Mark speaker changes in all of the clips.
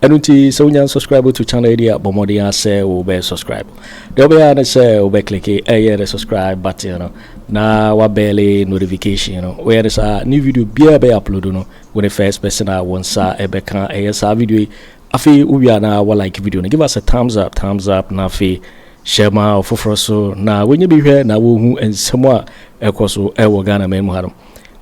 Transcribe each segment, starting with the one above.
Speaker 1: Ɛno nti sɛ wonya nsubscribe to channel yi a bɔ mmɔden ara sɛ wobɛyɛ subscribe deɛ wobɛyɛ ara ne sɛ wobɛklike ɛyɛ ne subscribe button no na wabɛɛle notification no woyɛ ne saa ne video biara bɛyɛ upload no wo ne first person a wo nsa ɛbɛka ɛyɛ saa video yi afei wowie a na wa like video no give us a thumbs up thumbs up na afei hyɛ ma ɔfoforɔ so na wɔnyɛ bi hwɛ na wɔhu nsɛm a ɛkɔ so ɛwɔ Ghana man mu ha no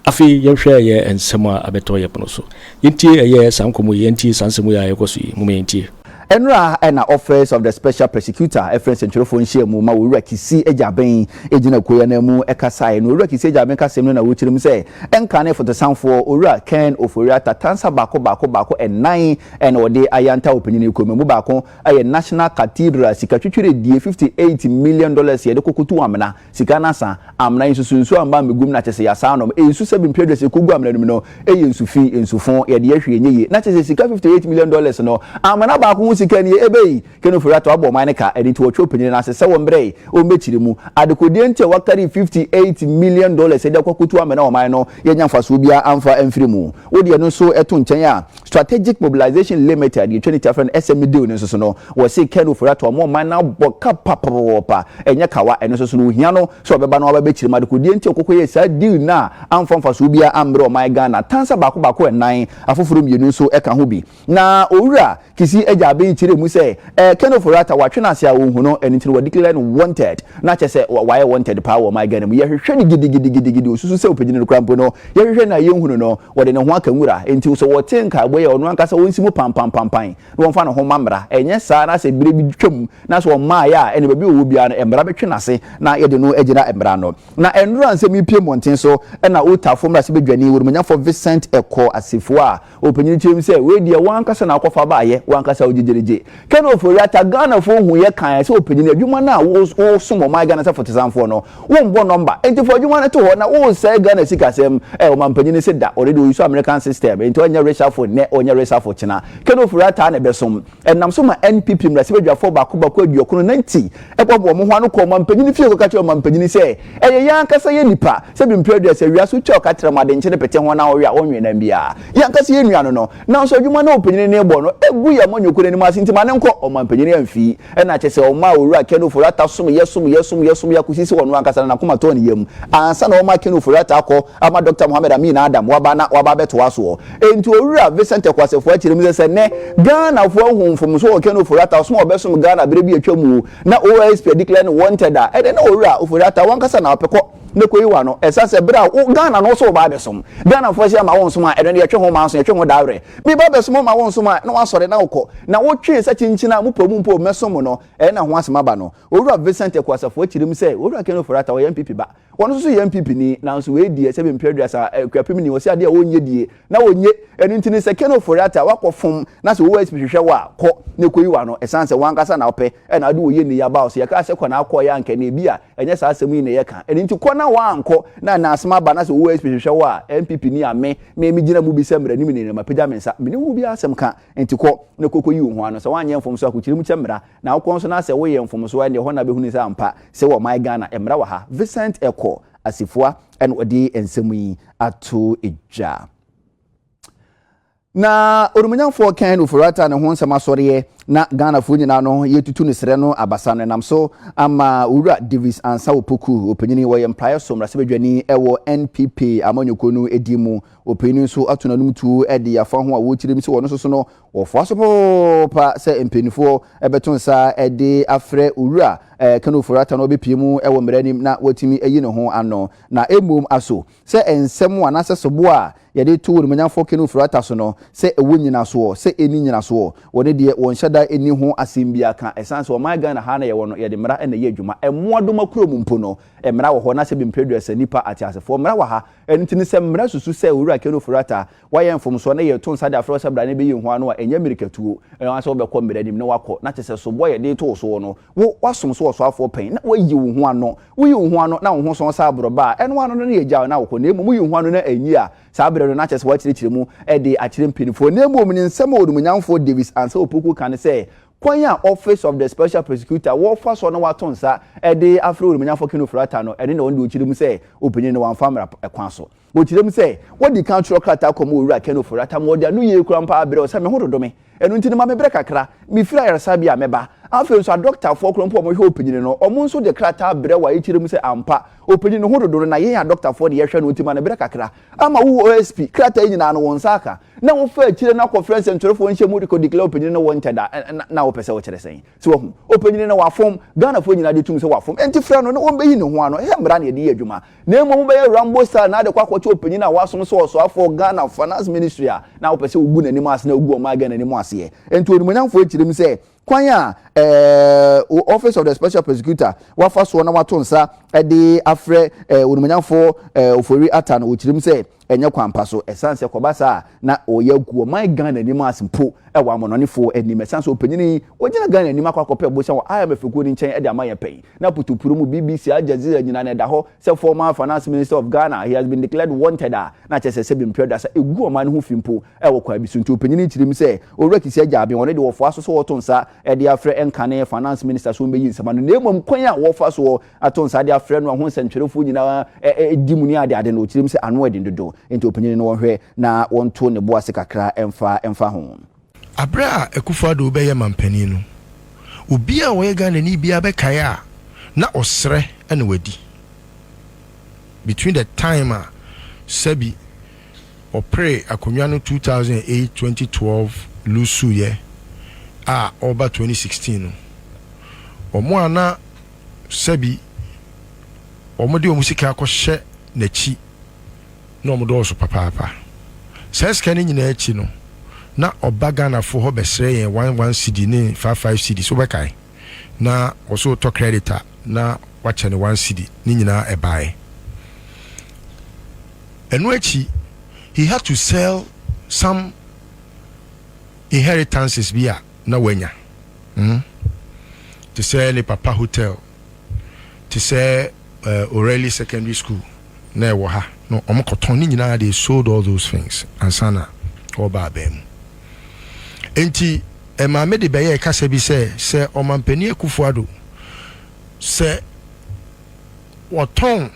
Speaker 1: Afei yɛnhwɛ ɛyɛ nsɛm a abɛtɔ yɛ pono so. Yɛntie ɛyɛ saa nkɔmmɔ yi, yɛntie saa nsɛm wei a ɛrekɔ so yi. Momma yɛntie. Nnora na
Speaker 2: Office of the Special Persecutor frɛ nsɛntwerɛfoɔ nhyiamu ma Owura Kissi Agyaben gyina akuo yi ananmu kasaeɛ no. Owura Kissi Agyaben kasem no na wokyerɛ mu sɛ ɛnkane fotosanfoɔ Owura Ken Ofori-Atta tansa baako baako baako nnan na wɔde ayɛ Antawo Panyin Ekuo mu. Ɛmu baako yɛ National Cathedral, sika twitwiredie fifty eight million dollars yɛde kɔkɔtu amena. Sika na sa. Amena nsusu nsu a mma mmegum na kyese yasa anom nsu sɛbe mpie aduasa ekogu amena no mu no eye nsu fi nsu fo yɛde yɛ hwee nyɛ yie na kyese sika fifty eight million dollars no amena baako ho sika nie ebei Kenneth Ofori Ato abɔ ɔman no ka ɛno nti wɔtwe ɔpanyini no ase sɛ wɔn brɛ wɔn bɛkyire mu adekodeɛ nti a wɔakari fifty eight million dollars de akɔ akotu amena ɔman no yɛnya mfasoɔ biara amfa amfiri mu wode ɛno nso to nkyɛn a Strategic Mobilisation Limited, yɛtwa no tiafa no, SMDU no nso so no, wɔse Ken Ofori Atta wɔn ɔman no abɔ ka papapapapa, ɛnyɛ kawa, ɛno nso so no ohia no sɛ ɔbɛba na waba abɛkyerɛ mu adekodeɛ nti a ɔkɔkɔyɛɛ saa deal no a amfa mfasoɔ biara ammrɛ ɔman Ghana, tansa baako baako nnan, afoforɔ mmienu nso ka ho bi. Na Owura Kissi Agyaaben kyerɛɛ mu sɛ, Eh, Ken Ofori Atta, wɔatwe no ase a wonhu no, ɛno nti na wɔadeclare no wanted. Na kyerɛ sɛ wayɛ wanted paa wɔ ɔman Ghana mu. Yɛhwehwɛ no gidigidigidigidi, osusu sɛ opegyina no koraa mpo no, yɛhwehwɛ no a yenhu no no, wɔde ne ho aka nwura. Enti sɛ wɔte nkaebɔ yi a, ɔno ankasa onsi mu pampampampae na wɔmfa ne ho mma mmara. Ɛnyɛ saa na sɛ bere bi twam na sɛ ɔmmaeɛ a, ɛnde baabi a ɔwɔ biara no, mmara bɛtwe n'ase na yɛde no agyina mmara ano. Na ɛnnora nsɛm yi pue mmɔnten so na Otafo mmarahyɛbadwani, Onumanyafoɔ Vincent Ɛkɔ Asifua a Ɔpanyin kyerɛm sɛ, Wei deɛ w'ankasa na wokɔfa baeɛ, w'ankasa wo gyegyeregye. Ken Ofori-Atta, Ghanafoɔ huiɛ kaeɛ sɛ ɔpanyin adwuma no a woresom ɔman Ghana sɛ fotesanfoɔ no, wombɔ nɔmba. Enti fa adwuma no to hɔ na woresɛe Ghana sikasɛm. Ɛ, ɔmanpanyin no se da, already ɔuse American system, enti ɔnyɛ reshuffle nnɛ, ɔnyɛ reshuffle kyena. Ken Ofori-Atta na ɛbɛsom. Ɛnam so ma NPP mmarahyɛbadwafoɔ baako baako aduɔkron na nti ɛboaboa wɔn ho ano kɔ ɔmanpanin fie kɔka kyerɛ ɔmanpanin sɛ ɛyɛ yɛn ankasa yɛn nnipa sɛbi mprɛ aduasa awia so twa ɔka tram ade nkye no pete ho na ɔwe a ɔnwe nam biara yɛn ankasa yɛn nua no no nanso adwuma no a ɔpanyin no rebɔ no ɛgu yɛn amanyɔkuo no anim ase nti ma no nkɔ ɔmanpanin amfi ɛna akyɛ sɛ ɔmaa owura Ken Ofori-Atta somyɛ somyɛ somyɛ somyɛ akɔsi sɛ ɔno ankasa no n'akoma tɔɔ ne yam ansa na ɔma Ken Ofori-Atta akɔ ama Dɔkta Mohammed Amin Adam waba na waba abɛtoa soɔ. Enti Owura Vicente Kwasefua kyerɛ mu sɛ, sɛ nnɛ Ghanafoɔ ahu mfomso wɔ Ken Ofori-Atta ɔsom a ɔbɛsom Ghana berɛ bi a atwam mu na OISP a declare no wanted a, ɛnneɛ na Owura Ofori-Atta wankasa na ɔpekɔ na ɛkɔyi w'ano. Ɛsiane sɛ berɛ a wo Ghana no wo so woba abɛsom Ghanafoɔ hyɛ ma wonsom a, ɛno deɛ ɛtwe ho manso, ɛtwe ho dawere. Meba abɛsom wo ma wonsom a, na woasɔre na wokɔ. Na wotwe nsa kyinkyin a mopɛ mu mpo mmɛsom mo no, ɛyɛ na ho asɛm aba no. Owura Vicente Kwasefua kyerɛ mu sɛ, Owura Ken Ofori-Atta ɔyɛ NPP ba. Ɔno nso so yɛ NPP ni nanso wei deɛ sɛbe mpere aduasa eh, Akuapem ni ɔse adeɛ a ɔnyɛ die na ɔnye ɛno nti no sɛ Ken Ofori-Atta wakɔ fom na sɛ OSP hwehwɛ wo a kɔ na ɛkɔyi wo ano ɛsan sɛ wankasa na ɔpɛ ɛna ade ɔyɛ nnɛ yi aba ɔse yɛkaa sɛ kɔ na akɔɔyɛ a nka ɛnɛ ebi a ɛnyɛ saa asɛm yi na yɛka ɛno nti kɔ na wankɔ na ɛna asem aba na sɛ OSP hwehwɛ wo a NPP ni a me me me gyina mu bi sɛ mmaranim ni na mapagya me nsa mene wo bi asɛm ka nti kɔ na kɔkɔyi wo ho ano sɛ wanyɛ mfom so a kɔkyiri mu kyɛ mmara Na wokɔ nso na sɛ woyɛ mfomsoɔ a, ɛnneɛ ɛhɔ na bɛhunu sɛ ampa sɛ wɔman Ghana mmara wɔ ha. Vincent Ekow Asifua na ɔde nsɛm yi ato dwa. Na Onimuonyamfoɔ Ken Ofori-Atta ne ho nsɛm asɔreɛ na Ghanafoɔ nyinaa no yɛretutu no serɛ no abasa no ɛnam so ama Owura Davis Ansah Opoku, ɔpanyini wɔ yɛn mpraeɛ so mmarahyɛbadwani wɔ NPP amanyɔkuo no din mu. Ɔpanyini nso ato n'anom tuo de yɛafa ho a ɔkyerɛ mu sɛ ɔno nso so no Wɔfoa so poopa sɛ mpanimfoɔ bɛto nsa de afrɛ Owura Ken Ofori-Atta na ɔbɛpue mu wɔ mmara anim na watumi ayi ne ho ano. Na mmom aso sɛ nsɛm anaasɛ soboɔ a yɛde to Onimuonyamfoɔ Ken Ofori-Atta so no sɛ ɛwɔ nyinasoɔ, sɛ ɛnni nyinasoɔ. Wɔ ne deɛ wɔnhyɛ da nni ho asɛm biara ka. Ɛsiane sɛ ɔman Ghana ha na yɛwɔ no, yɛde mmara na ɛyɛ adwuma. Mmoadoma kurom mpo no, mmara wɔ hɔ, anaasɛ bemprɛ aduasa nnipa ateasefoɔ mmara wɔ ha. Ɛno nti no sɛ mmara susu sɛ Owura Ken Ofori-Atta, Woayɛ mfomsoɔ na yɛreto nsa de afrɛ wo sɛ bra na bɛyi wo ho ano a, ɛnyɛ mmirikatuo anaasɛ wobɛkɔ mmara anim na woakɔ, na te sɛ soboɔ a yɛde reto wo soɔ no, wo, woasom so ɔsoafoɔ panyin na woayi wo ho ano. Woyi wo ho ano na wo ho sɔn sɛ aborɔbɛ a, ɛno ara no na yɛgyaw na wokɔ, na mmom woyi wo ho ano na anyi a, saa berɛ no na kyerɛ sɛ woakyerɛkyerɛ mu de akyerɛ mpanimfoɔ. Na mmom ne nsɛm a Onimuonyamfoɔ Davis Ansah Opoku ka ne sɛ, Kwan a Office of the Special Prosecutor wɔfa so na wɔato nsa de afrɛ Onimuonyamfoɔ Kenneth Ofori-Atta no, ɛno na ɔno deɛ ɔkyerɛ mu sɛ ɔpanyin no wɔamfa mmara kwan so. Wɔkyerɛ mu sɛ, Wadi kan twerɛ krataa kɔma Owura Ken Ofori-Atta ma ɔde anoyie kura mpa brɛɛ wo sɛ me ho dodo me, ɛno nti no ma me berɛ kakra, mefiri ayaresabea a mɛba. Afei nso adɔktafoɔ korɔ mpo a wɔhwɛ ɔpanyini no, wɔn nso de krataa brɛ wo a ɛkyerɛ mu sɛ ampa ɔpanyini no ho dodo no na yɛn adɔktafoɔ na yɛhwɛ no nti ma no berɛ kakra. Ama wo OSP, krataa yi nyinaa no wo nsa aka na wofa akyire no akɔfrɛ nsɛntwerɛfoɔ nhyiamu de kɔdeclare ɔpanyini no wɔ ntɛda na wopɛ sɛ wokyerɛ sɛn? So wahu? Ɔpanyini no wafom, Ghanafoɔ nyinaa gye tom sɛ wafom, ɛnti frɛ no na wɔmmɛyi ne ho ano, ɛyɛ mmara na yɛde yɛ adwuma. Na mmom wobɛyɛ Rambo style na de kɔ akɔkyɛ ɔpanyin a wasom sɛ ɔsoafoɔ Ghana Finance Ministry a na wopɛ sɛ wogu n'anim ase na wogu ɔman Ghana anim aseɛ. Enti onimuonyamfoɔ yi kyerɛ mu sɛ kwan a ɛɛ Office of the Special Prosecutor wafa soɔ na wato nsa de afrɛ ɛɛ onimuonyamfoɔ ɛɛ Ofori-Atta no, ɔkyerɛ mu sɛ ɛnyɛ kwan pa so ɛsiane sɛ kɔba saa a na ɔyɛ agu ɔman Ghana anim as mpo wɔ amonɔnefoɔ anim ɛsiane sɛ ɔpanyin yi ɔgyina Ghana anim akɔ akɔpɛ bosan wɔ IMF kuo no nkyɛn de ama yɛn pɛn na putupuo mu BBC Al Jazeera nyinaa na ɛda hɔ sɛ former finance minister of Ghana he has been declared wanted a na kyerɛ sɛ sɛbi mprɛ aduasa ɛgu ɔman no ho fi mpo wɔ kwan bi so nti ɔpanyin yi kyirim sɛ Owura Kissi Agyaaben ɔno deɛ ɔfoa so sɛ ɔto nsa de afrɛ nkane finance minister sɛ ɔmbɛyi nsɛm ano na mmom kwan a wɔfa soɔ ato nsa de afrɛ no a ho nsɛntwerɛfoɔ nyinaa di mu ne adeade no, ɔkyerɛm sɛ ano yɛ den dodo nti ɔpanyini no ɔnhwɛ na wɔnto ne bo ase kakra mfa mfa ho. Aberɛ a
Speaker 3: Akufo Addo rebɛyɛ manpanin no, obiara a ɔyɛ Ghanani biara bɛkae a na ɔsrɛ na wadi. Between the time a sɛbi ɔpere akonnwa no two thousand and eight, twenty twelve loose-uiɛ a ɔreba twenty sixteen no, wɔn a na. Sɛbi, wɔde wɔn sika akɔhyɛ n'akyi na wɔdɔɔso papaapa. Saa sika no nyinaa akyi no, na ɔba Ghanafoɔ hɔ bɛsrɛ yɛn one one cedi ne five five cedis, wobɛkae? Na ɔsɛ ɔtɔ credit a na wakyɛ no one cedi, ne nyinaa ɛbaeɛ. Ɛno akyi, he had to sell some inheritances bi a na wanya. Mm-hmm. Te sɛ ne papa hotel, te sɛ uh, O'Reilly Secondary School na ɛwɔ ha. No, wɔn kɔtɔn ne nyinaa they sold all those things ansa na ɔba abɛn mu. Nti eh, maame de bɛyɛ kasa bi sɛ sɛ ɔmampanin Akufo-Addo sɛ wɔtɔn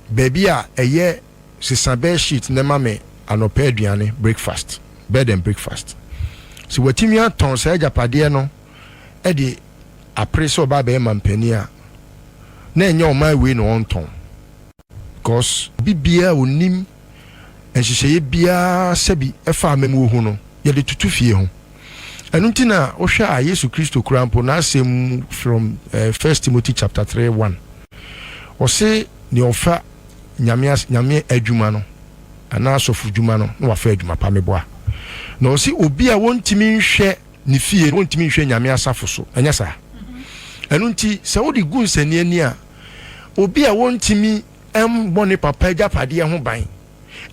Speaker 3: baabi a ɛyɛ sesa bed sheet na ɛma me anɔpa aduane, breakfast, bed and breakfast. Sɛ watumi atɔn saa agyapadeɛ no de apere sɛ ɔba abɛyɛ mampanin a, na ɛnyɛ ɔman wei na ɔntɔn. Because obi biara a ɔnim nhyehyɛeɛ biara sɛbi ɛfa amammuo ho no, yɛde toto fie ho. Ɛno nti na wohwɛ a Yesu Kristo koraa mpo, n'asɛm mu from First Timothy chapter three one, ɔse deɛ ɔfa. nyame as nyame adwuma no anaa asɔfo dwuma no na wafa adwuma pa meboa na ɔsi obi a wɔntumi nhwɛ ne fie wɔntumi nhwɛ nyame asafo so ɛnyɛ saa ɛno nti sɛ wode gu nsɛnni ani a obi a wɔntumi mmɔ ne papa agyapadeɛ ho ban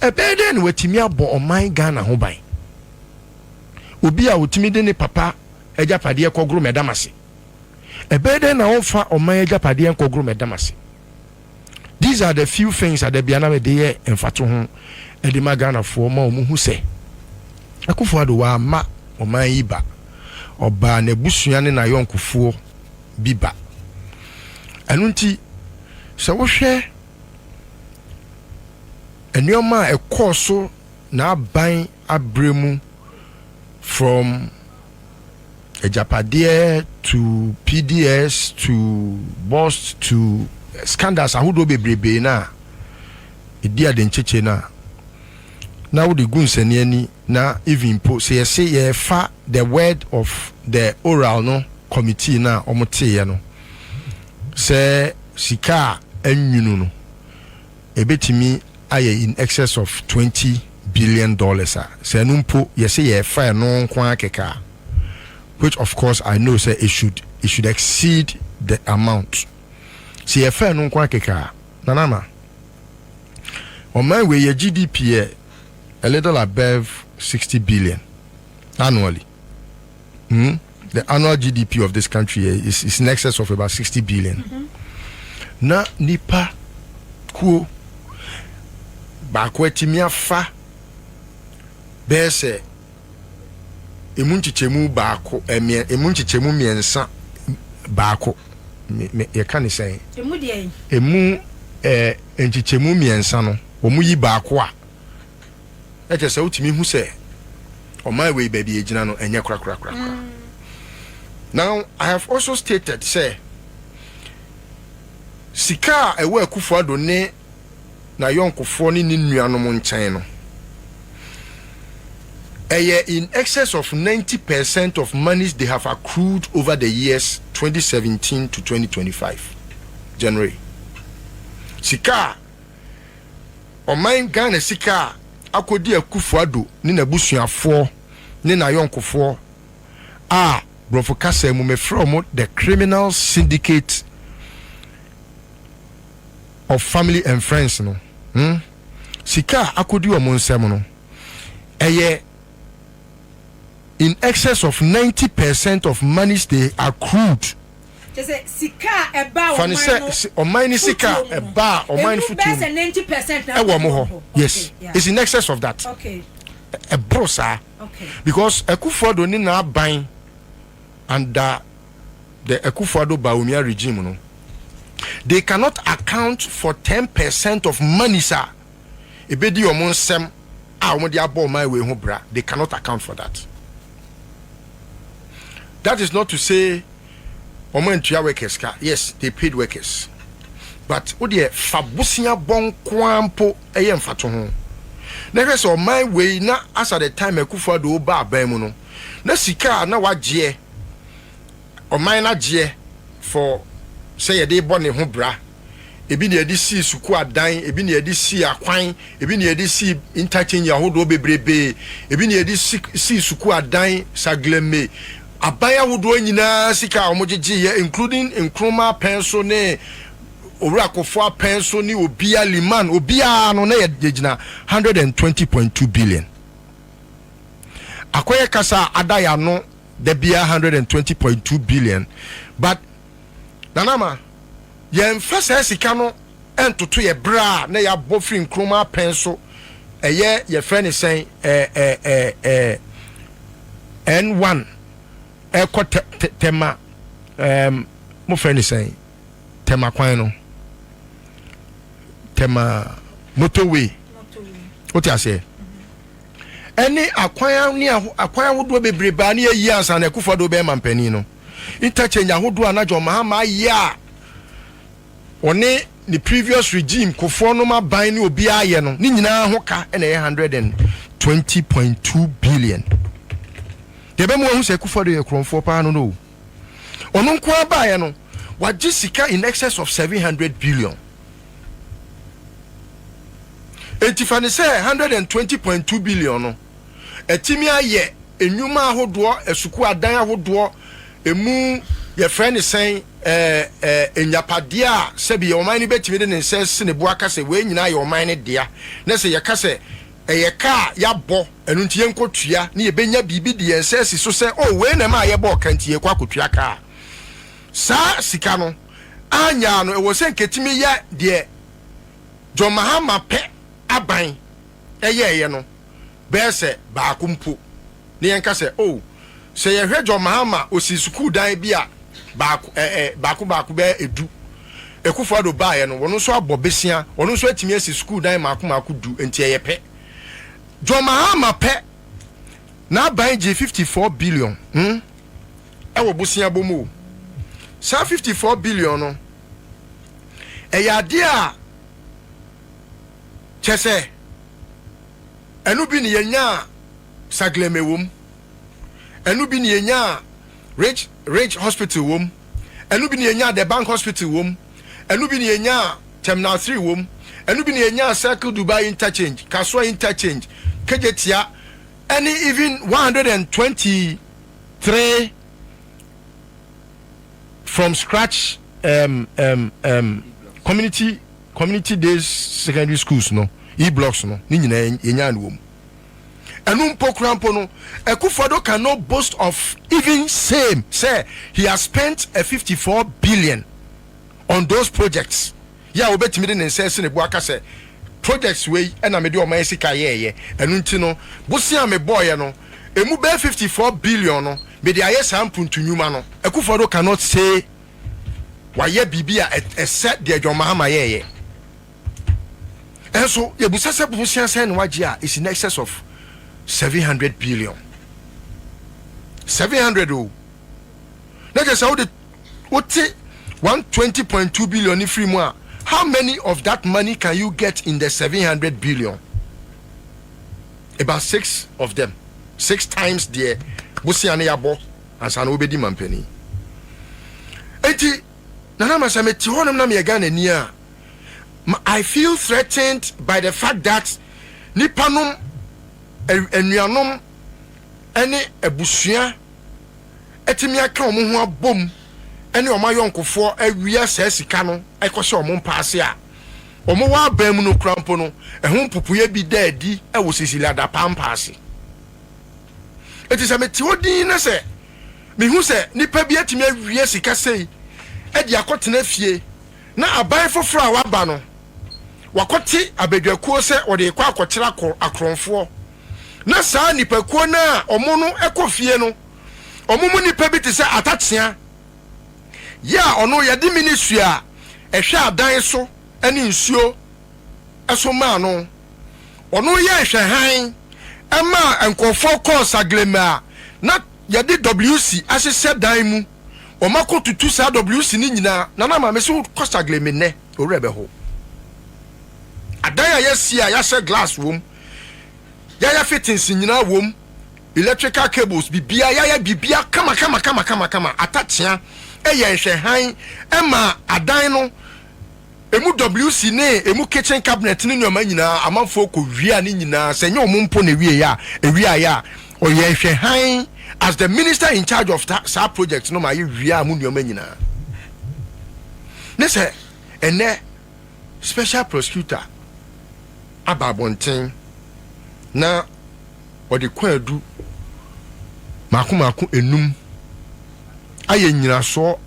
Speaker 3: ɛbɛyɛ dɛn na watumi abɔ ɔman Ghana ho ban obi a ɔtumi de ne papa agyapadeɛ kɔgoro mɛdam ase ɛbɛyɛ dɛn na ɔmfa ɔman agyapadeɛ nkɔgoro mɛdam ase These are the few things adabia na mede yɛ mfatoho de ma Ghanafoɔ ma wɔhu sɛ Akuffo Addo wamma ɔman yi ba, ɔbaa n'abusua ne n'ayɔnkofoɔ bi ba. Ɛno nti sɛ wohwɛ nneɛma a ɛkɔɔ so n'aban aberɛ mu from Agyapadeɛ to PDS to Bost to scandals ahodoɔ bebrebee no a ɛdi adenkyekyɛ no a na wode gu nsani ani na even mpo sɛ yɛse yɛrefa the word of the oral no committee no a wɔteeɛ no sɛ sika a anwunu no ɛbɛtumi ayɛ in excess of twenty billion dollars a, sɛ ɛno mpo yɛse yɛfa ɛno nko ara kɛkɛ a, which of course I know sɛ it should it should exceed the amount, sɛ yɛfa ɛno nko ara kɛkɛ a, Nanana, ɔman wei yɛ GDP yɛ a little above sixty billion annually. Hmm? The annual GDP of this country eh, is, is in excess of about 60 billion. Mm-hmm. Na nipa kuo baako atumi afa bɛyɛ sɛ emu nkyekyɛmu baako ɛmiɛ eh, emu nkyekyɛmu mmiɛnsa baako yɛka ne sɛn emu ɛɛ eh, nkyekyɛmu mmiɛnsa no wɔn yi baako a. Na kyerɛ sɛ wotumi hu sɛ ɔman wei baabi a egyina no ɛnyɛ korakorakorakora. Now I have also stated sɛ sika a ɛwɔ Akufo Addo ne n'ayɔnkofoɔ ne ne nuanom nkyɛn no ɛyɛ in excess of ninety per cent of monies they have accrued over the years twenty seventeen to twenty twenty five January sika a. Ɔman Ghana sika a akɔdi Akuffo Addo ne n'abusuafoɔ ne n'ayɔnkofoɔ a Borɔfo kasa mu mefrɛ wɔn the criminal syndicate of family and friends no ho sika a akɔdi wɔn nsam no, ɛyɛ in excess of ninety percent of monies they accrued. Kyɛ sɛ sika
Speaker 4: a ɛbaa ɔman no fotuo mu. Fa no sɛ ɔman
Speaker 3: no sika a ɛbaa ɔman no fotuo mu. Ɛmu bɛyɛ sɛ ninety percent
Speaker 4: na ɛkɔ wɔn hɔ.
Speaker 3: Yes, it's in excess of that. Okay.
Speaker 4: Ɛboro
Speaker 3: saa. Okay. Because
Speaker 4: Akufo-Addo
Speaker 3: ne n'aban under the Akufo-Addo Bawumia regime no, they cannot account for ten percent of monies a ebedi wɔn nsɛm a wɔde abɔ ɔman wei ho bra, they cannot account for that. That is not to say wɔn antua workers ka, yes they paid workers but wo deɛ fa bosea bɔ nko ara mpo ɛyɛ mfatoho na hwɛ sɛ ɔman wei na as at the time Akufo Addo ba aban mu no na sika a na wagyeɛ ɔman no agyeɛ for sɛ yɛde bɔ ne ho bra Ebi na yɛde sii sukuu adan, ebi na yɛde sii akwan, ebi na yɛde sii interchange ahodoɔ bebrebee, ebi na yɛde si sii sukuu adan, Saglemme, aban ahodoɔ nyina ara sika a wɔgyegyeeɛ, including Nkrumah apɛn so ne Owura Kofo apɛn so ne obia, Limann, obiara no na yɛgyina one hundred and twenty point two billion. Akɔyɛ kasa a ada yɛn ano da biara one hundred and twenty point two billion but. Nana ma yɛnfa saa sika no ntoto yɛ bra a na yɛabɔ firi nkroma apɛn so ɛyɛ yɛfrɛ ne sɛn ɛɛ ɛɛ ɛɛ n1 ɛkɔ tɛ tɛ tɛma ɛɛm mofrɛ ne sɛn tɛma kwan no tɛma motorway wote aseɛ ɛne akwan ne akwan ahodoɔ bebree baa ne yɛyi ansa na akufo ado bɛyɛ mampanin no interchange ahodoɔ a na John Mahama ayɛ a ɔne ne previous regime kofoɔ nom aban ne obiara ayɛ no ne nyinaa ho ka na ɛyɛ hundred and twenty point two billion. Deɛ ɛbɛma wahu sɛ Akufo-Addo yɛ korɔmfoɔ paa no no o, ɔno nko ara baeɛ no wagye sika in excess of seven hundred billion. Enti fa no sɛ hundred and twenty point two billion no. Atumi ayɛ nnwuma ahodoɔ, asukuu adan ahodoɔ, ɛmu yɛfrɛ no sɛn, ɛɛ nyapadeɛ a sɛbi ɔman no bɛtumi de ne nsa asi ne bo aka sɛ wei nyinaa yɛ ɔman no dea, na sɛ yɛka sɛ ɛyɛ ka a yɛabɔ, ɛno nti yɛnkɔtua na yɛbɛnya biribi de yɛn nsa asi so sɛ oh wei na ɛma a yɛbɔɔ ka nti yɛkɔ akɔtua ka a saa sika no anyaa no. Ɛwɔ sɛ nkɛtumi yɛ deɛ John Mahama pɛ aban yɛeɛ no bɛyɛ sɛ baako mpo, na yɛnka sɛ, oh, sɛ yɛhwɛ John Mahama, ɔsii sukuu dan bi a baako, ɛ, ɛ, baako baako bɛyɛ du. Akufo-Addo baeɛ no, ɔno nso abɔ besia, ɔno nso atumi asi sukuu dan mmaako mmaako du, enti ɛyɛ pɛ. John Mahama pɛ, n'aban gyee 54 billion, hmm, ɛwɔ boseabɔ mu o. Saa 54 billion no, ɛyɛ adeɛ a. Kyɛsɛ ɛno bi ne yɛnyaa Sagleme wom, ɛno bi ne yɛnyaa Ridge Ridge Hospital wom, ɛno bi ne yɛnyaa The Bank Hospital wom, ɛno bi ne yɛnyaa Terminal 3 wom, ɛno bi ne yɛnyaa Circle Dubai Interchange, Kasoa Interchange, Kejetia, ɛne even 123 from scratch um, um, um, community Community day secondary schools no E blocks no ne nyinaa yɛnyaa no wɔ mu. Ɛno mpo koraa mpo no Akuffo Addo can not boast of even same sɛ he has spent a fifty four billion on those projects yɛ a ɔbɛtumi de ne nsa asi ne bo aka sɛ projects wei na mede ɔman sika yɛɛyɛ ɛno nti no bosea a mebɔɔeɛ no ɛmu bɛyɛ fifty four billion no mede ayɛ saa mpuntu nnwuma no Akuffo Addo can not say wayɛ biribi a ɛsɛ deɛ John Mahama yɛɛyɛ. Ɛnso yɛbusa sɛ bosea sɛn na wagye a is in excess of 700 billion 700 o na kyerɛ sɛ wode wote 120.2 billion ne firi mu a how many of that money can you get in the 700 billion about six of them six times deɛ bosea no yɛabɔ ansa na wobedi manpanin. Enti Nana Ama sɛ mete hɔnom na meyɛ Ghanani a, I feel threatened by the fact that nnipa nom, anuanom ne abusua atumi aka wɔn ho abom ne wɔn ayɔnkofoɔ awia saa sika no kɔhyɛ wɔn mpaase a wɔn wɔ aban mu no koraa mpo no, ɛho mpopoeɛ bi da adi wɔ Cecilia Dapaah mpaase. Enti sɛ mete hɔ dinn na sɛ mihu sɛ nipa bi atumi awie sika sei de akɔtena fie na aban foforo a waba no, wakɔte abadwakuo sɛ wɔde rekɔ akɔkyere akorɔmfoɔ, na saa nipakuo no a wɔn no kɔ fie no, wɔn mu nipa bi te sɛ Atakyea yi a ɔno yɛde Minisua a ɛhwɛ adan so ne nsuo so maa no. Ɔno yɛɛ nhwɛhan maa nkurɔfoɔ kɔɔ Saglema a na yɛde WC ahyehyɛ dan mu. Wɔma kɔtutu saa WC no nyinaa. Nana Maame sɛ wokɔ Saglema nnɛ wo werɛ bɛho. Adan a yɛasi a yɛahyɛ glass wɔ mu, yɛayɛ fittings nyinaa wɔ mu, electrical cables biribiara, yɛayɛ biribiara kama kama kama kama kama. Atakyea yɛɛ nhwɛhan maa adan no Emu WC ne emu kitchen cabinet ne nnoɔma nyinaa amanfoɔ kɔ wiaa ne nyinaa sɛ nyɛ ɔmo mpo na ɛwieɛ a ɛwiaeɛ a ɔyɛ nhwɛ hann as the minister in charge of ta saa project no ma yɛ wiaa mo nnoɔma nyinaa ne sɛ ɛnnɛ special prosecutor aba abɔnten na ɔde kwaadu mmaako mmaako nnum ayɛ nnyinasoɔ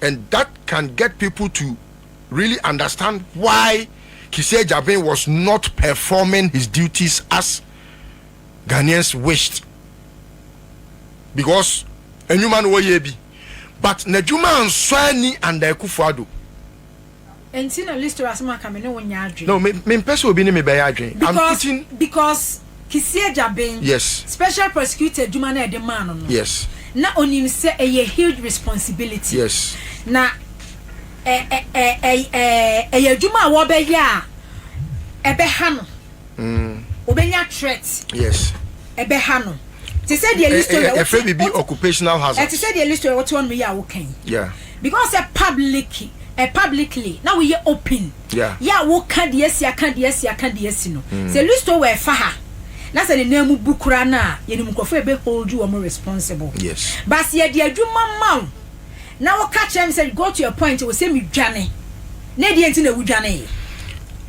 Speaker 3: and that can get people to really understand why Kissi Agyabeng was not performing his duties as Ghanaians wished because nnwuma no wɔyɛ bi but n'adwuma ansɔ ani under Akufo-Addo
Speaker 4: Enti na Listra asem aka me ne wo nyɛ adwen. No, me me mpɛ sɛ obi ne
Speaker 3: me bɛyɛ adwen. I'm Because putting. because
Speaker 4: Kissi Agyabeng Yes. special
Speaker 3: prosecutor
Speaker 4: adwuma no a yɛde maa no no, Yes. na onim
Speaker 3: sɛ
Speaker 4: ɛyɛ huge responsibility. Yes. Na ɛ ɛ ɛ ɛ ɛ ɛyɛ adwuma a wɔbɛyɛ a ɛbɛha no. obenya threat yes
Speaker 3: ɛbɛha no
Speaker 4: te sɛ deɛ listo yɛ yɛfrɛ biribi occupational
Speaker 3: hazard ɛte sɛ deɛ listo yɛ wote ɔnom
Speaker 4: yi a woka yi yeah because
Speaker 3: ɛ
Speaker 4: public ɛ publicly na woyɛ open yeah yɛ a woka
Speaker 3: deɛ asi
Speaker 4: aka deɛ asi aka deɛ asi no mm. sɛ listo wɔ ɛfa ha na sɛ ne nan mu bu kura no a yɛnim nkurɔfoɔ ɛbɛ hold you wɔn responsible yes but yɛde
Speaker 3: adwuma
Speaker 4: ma wo na woka kyerɛ me sɛ go to a point wɔ sɛ medwane Na deɛ nti na wo dwanee.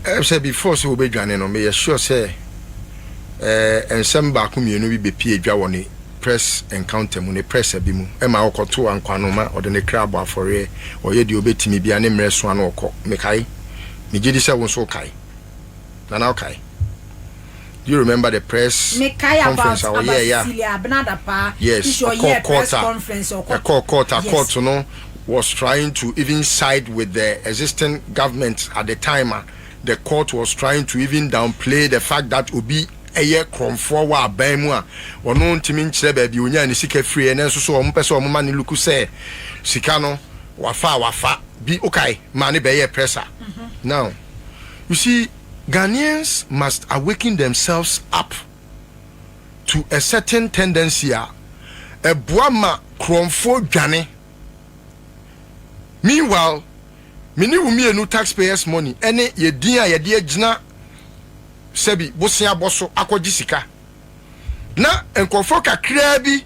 Speaker 4: Ɛyɛ
Speaker 3: sɛ before sɛ obe dwane no me yɛ sure sɛ eh nsɛm baako mmienu bi bepie dwa wɔ ne press encounter mu ne press abi mu ɛma ɔkɔ to ankwano ma ɔde ne kra bɔ afɔreɛ ɔyɛ deɛ obe timi bia ne mmerɛ soa no ɔkɔ mekae me gyedi sɛ wo nso wokae nana wokae. Do you remember the press conference a ɔyɛɛ yɛ a? Yes, ɔkɔɔ court a, ɛkɔɔ court a, court no was trying to even side with the existing government at the time a, the court was trying to even downplay the fact that obi yɛ korɔmfoɔ wɔ aban mu a, ɔno ntumi nkyerɛ baabi a ɔnyaa ne sika firiiɛ, nanso so wɔpɛ sɛ wɔma no luku sɛ sika no wafa a wafa bi, wokae, maa no bɛyɛɛ press a. Now, you see, Ghanaians must awaken themselves up to a certain tendency a ɛboa ma korɔnfoɔ dwane. Meanwhile, me ne wo mmienu taxpayers money ɛne yɛn din a yɛde agyina sɛbi boseabɔ so akɔgye sika na nkorɔfoɔ kakraa bi,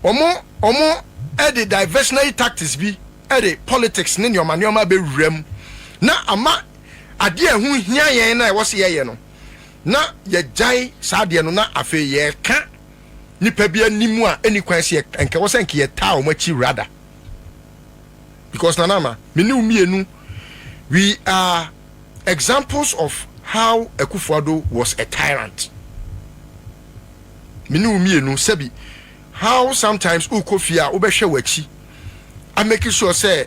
Speaker 3: Wɔn wɔde diversionary tactics bi de politics ne nneɛma nneɛma abɛwura mu na ama adeɛ a ɛho hia yɛn na ɛwɔ sɛ yɛyɛ no na yɛgyae saa adeɛ no na afei yɛreka nipa bi anim a ɛni kwan sɛ nka ɛwɔ sɛ nka yɛtaa wɔn akyi rather because Nana Ama me ne wo mmienu we are examples of how Akufo-Addo was a tyrant. me ne wo mmienu sɛbi how sometimes wokɔ fie a wobɛhwɛ w'akyi a make sure sɛ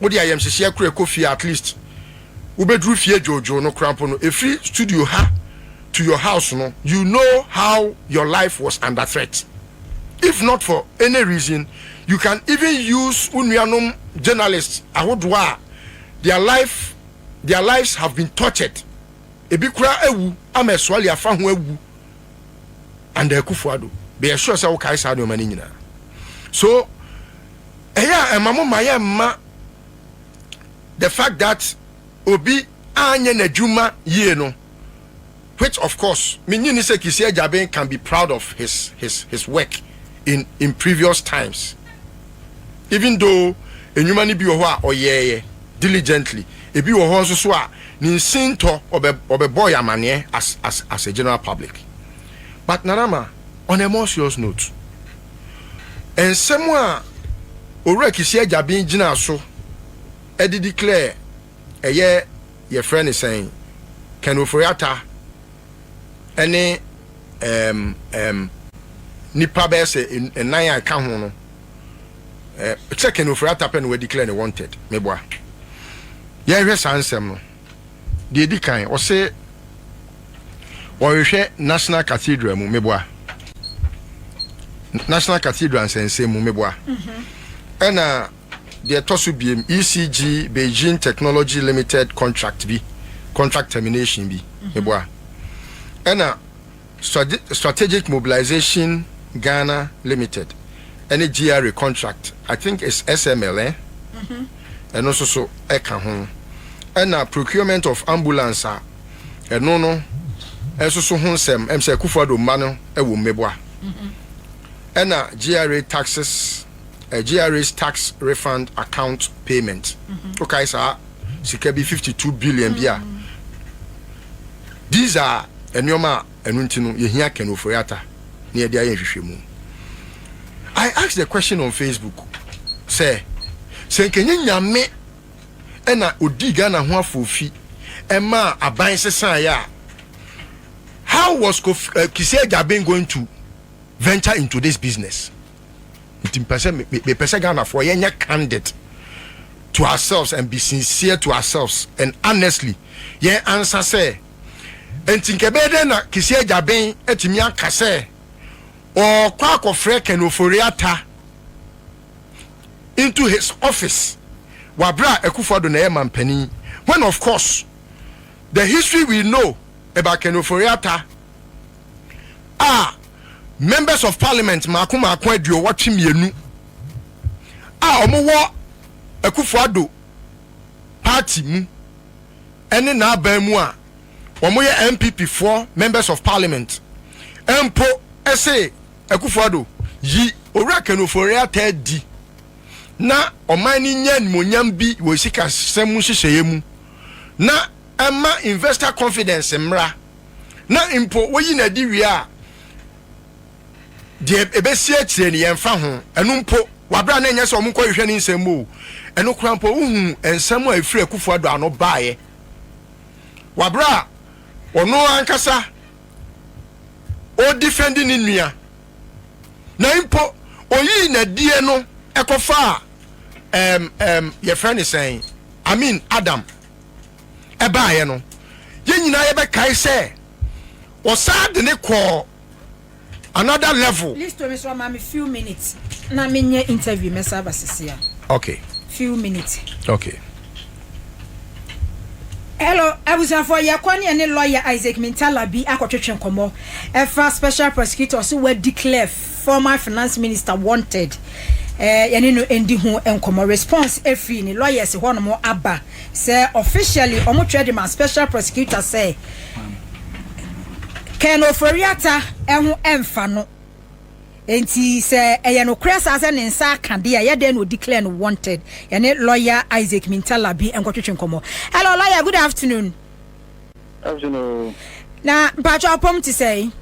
Speaker 3: wode ayamhyehyeɛ korɛ kɔ fie a at least wobɛduru fie dwoodwoo no kora mpo no ɛfiri studio ha to your house no you know how your life was under threat if not for any reason you can even use wo nuanom journalist ahodoɔ a their life their lives have been tortured ebi kora awu ama ɛsoale afa ho awu under akufo ado bɛyɛ sure sɛ wokae saa nneɛma no nyinaa so ɛyɛ a ɛma mo ma yɛ mma the fact that obi anyɛ n'adwuma yie no which of course menyi ni sɛ kisi agyaben can be proud of his his his work in in previous times even though enwuma no bi wɔ hɔ a ɔyɛɛyɛ diligently ebi wɔ hɔ nso so a ne nsintɔ ɔbɛ ɔbɛbɔ yɛ amaneɛ as as as a general public but Nana Ma on a more serious note nsɛm a Owura Kisi Agyaben gyinaa so ɛde declare ɛyɛ yɛfrɛ ne sɛn Ken Ofori Atta ne ɛɛm ɛɛm nnipa bɛyɛ sɛ nnan a ɛka ho no ɛɛ sɛ Ken Ofori-Atta pɛ na wɔadeclare ne wanted meboa yɛnhwɛ saa nsɛm no deɛ ɛdi kan ɔse wɔhwehwɛ National Cathedral mu meboa National Cathedral nsɛnsɛm mu meboa ɛna Deɛ ɛtɔ so biem, ECG Beijing Technology Limited contract bi, contract termination bi, meboa. Ɛna Strategic Mobilisation Ghana Limited ne GRA contract, I think it's SML eh? ɛno nso so ɛka ho. Ɛna procurement of ambulance a ɛno no nso so ho nsɛm, ɛm sɛ Akufo-Addo mma no wɔ mu, meboa. Ɛna GRA taxes. GRA's tax refund account payment, wokae saa sika bi fifty two billion bi a, these are nneɛma a ɛno nti no yɛhia Ken Ofori-Atta na yɛde ayɛ nhwehwɛmu. I asked the question on Facebook sɛ, sɛ nkɛnyɛ Nyame ɛna ɔdii Ghana ho afoofi ɛmaa aban sesaeɛ a, how was Kofi, uh, Kissi Agyabeng going to venture into this business? nti mpɛ sɛ me me pɛ sɛ Ghanafoɔ yɛn nyɛ candid to ourselves and be sincere to ourselves and honestly yɛn ansa sɛ nti nka ɛbɛyɛ dɛn na Kissi Agyaben atumi aka sɛ ɔɔkɔ akɔfrɛ Ken Ofori Atta into his office wɔ aberɛ a Akuffo Addo na ɛyɛ manpanin when of course the history we know about Ken Ofori Atta a Members of Parliament mmaako mmaako aduowɔtwe mmienu a wɔwɔ Akufo-Addo party mu ne n'aban mu a wɔyɛ NPP foɔ Members of Parliament mpo se Akufo-Addo yi Owura Ken Ofori-Atta adi na ɔman no nya animuonyam bi wɔ sikasɛm nhyehyɛeɛ mu na ɛma investor confidence mmra. na mpo woyi no adi wie a, deɛ ɛbɛsi akyire no yɛmfa ho. Ɛno mpo, wɔabrɛ a na ɛnyɛ sɛ wɔnkɔhwehwɛ ne nsɛm mu o. Ɛno koraa mpo, wohu nsɛm a ɛfiri Akufo-Addo ano baeɛ. Wɔabrɛ a ɔno ankasa ɔredifɛndi ne nua, na mpo ɔyii n'adie no kɔfaa ɛm ɛm yɛfrɛ no sɛn, Amin Adam ɛbaeɛ no, yɛn nyinaa yɛbɛkae sɛ ɔsan de ne kɔɔ another level. Listo mi so ama me
Speaker 4: few minutes na me nyɛ interview mɛ sa aba sisi a. Okay. Few minutes.
Speaker 3: Okay.
Speaker 4: Hello, abusuafo yɛ kɔ ne ɛne lawyer Isaac Mintalabi akɔtwetwe nkɔmɔ ɛfa special prosecutor so wa declare Former Finance Minister Wanted eh, yɛne no ndi ho nkɔmmɔ. Response afiri ne lawyers hɔnom aba sɛ officially wɔtwerɛ de ma Special Prosecutor sɛ Ken Ofori-Atta ho mfa no. Enti sɛ ɛyɛ nokorɛ saa sɛ ne nsa aka deɛ a, yɛ dɛn na ɔdi clear no wanted? Yɛne lawyer Isaac Mintalabi nkɔtwetwe nkɔmmɔ. Hello lawyer, good afternoon. Afternoon.
Speaker 5: Na
Speaker 4: mpakyɛ ɔpɔm te sɛe?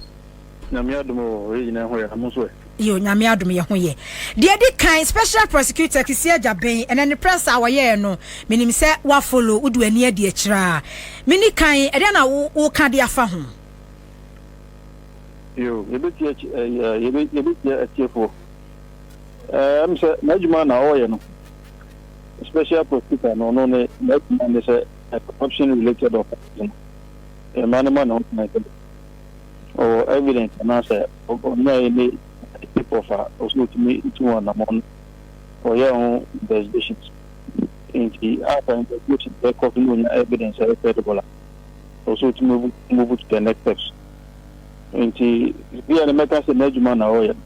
Speaker 4: Nyame
Speaker 5: adom o, yɛ nyina ho yɛ, mo nso ɛ? Yo, Nyame adom yɛ
Speaker 4: ho yɛ. Deɛ ɛdi kan, Special Prosecutor Kissi Agyabeng, ɛnɛ ne press a wɔyɛɛ no, menim sɛ woa follow, wode w'ani adi akyire a. Meni kan, ɛdeɛn na wo, wo ka de afa ho?
Speaker 5: Yo, yɛbɛtie akyi, ɛɛ, yɛbɛ, yɛbɛtie atiefoɔ. Ɛɛ, ɛm sɛ n'adwuma na ɔɔyɛ no, Special Prosecutor no, ɔno ne, n'adwuma ne sɛ, corruption related offences no, yɛma no ma ne ho kwan sɛ, Ɔwɔ evidence anaasɛ ɔnyae ne tape of a ɔsɛ ɔtumi tu wɔn anamɔn no ɔyɛɛ ho investigations nti a sɛ investigations no ɛkɔ so na ɔnya evidence a ɛyɛ credible a ɔsɛ ɔtumi move to the next steps nti bia no mɛka sɛ n'adwuma na ɔyɛ no.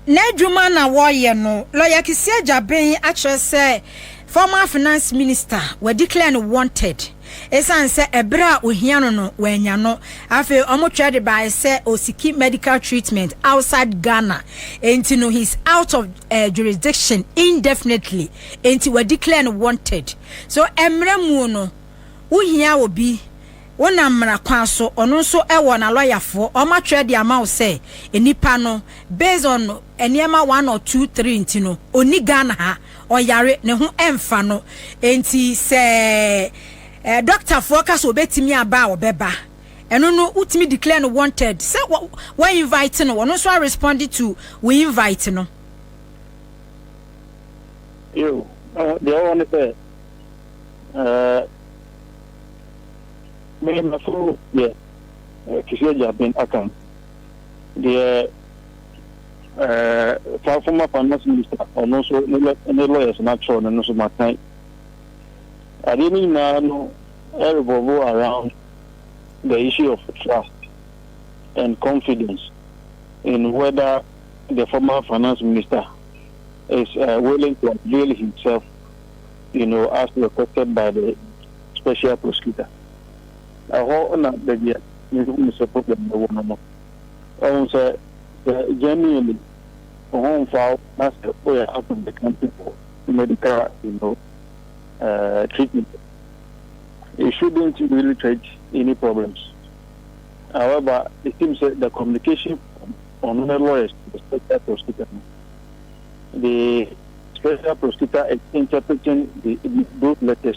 Speaker 5: N'edwuma
Speaker 4: na wɔyɛ no lɔya keseɛ gyaben akyerɛ sɛ former finance minister wɔadeclare no wanted esiane sɛ ɛberɛ a ohia no no wannya no. Afei wɔtwerɛ de baeɛ sɛ ɔsiki medical treatment outside Ghana enti no he's out of uh, jurisdiction indefinitely enti wɔadeclare no wanted. So mmerɛ mu no wohia obi Wonam mmara kwan so, ɔno nso wɔ nalɔyafoɔ, wɔn atwerɛ de ama wo sɛ nipa no based on nneɛma one or two three nti no ɔnni Ghana ha, ɔyare, ne ho ɛmfa no, nti sɛ dɔktafoɔ ka sɛ ɔbɛtumi aba a ɔbɛba, ɛno no wotumi declare no wanted sɛ wo invite no, ɔno nso a respond to wo invite no.
Speaker 5: Yo, deɛ ɛwɔ hɔ ne sɛ, eh. Me nso deɛ Kisii Agya Ben Akam deɛ ɛɛ saa former finance minister ɔno nso ne lɔ ne lawyers no atwerɛ no no nso makan. Adeɛ no nyinaa no revolve around the issue of trust and confidence in whether the former finance minister is uh, willing to avail himself you know, as requested by the special prosecutor. Ɛhɔ na baabi a mehu no sɛ problem no wɔ no no. Wahu sɛ, sɛ genuinely wo ho mfa wo na sɛ woyɛ out of the country for medical you know, uh, treatment, you shouldn't really create any problems. However, it seems that the communication on the lawyers, the special prosecutor, the special prosecutor is interpreting the, those letters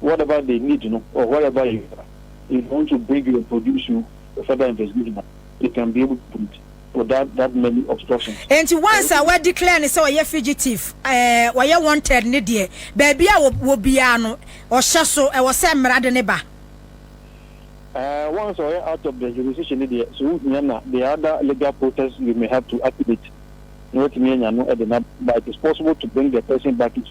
Speaker 5: whatever they need no or wherever you are if they want to bring you and produce you for further investigation a they can be able to do it without that many obstructions. Enti once a wa declare
Speaker 4: no sɛ ɔyɛ fugitive eh, ɔyɛ wanted ne deɛ, baabi a ɔwɔ biara no ɔhyɛ so, ɛwɔ sɛ mmara de no ba. Eh,
Speaker 5: once a ɔyɛ out of the jurisdiction no deɛ, sɛ ohia no a there are other legal process you may have to activate na watumi anya no de no aba, but it is possible to bring the person back into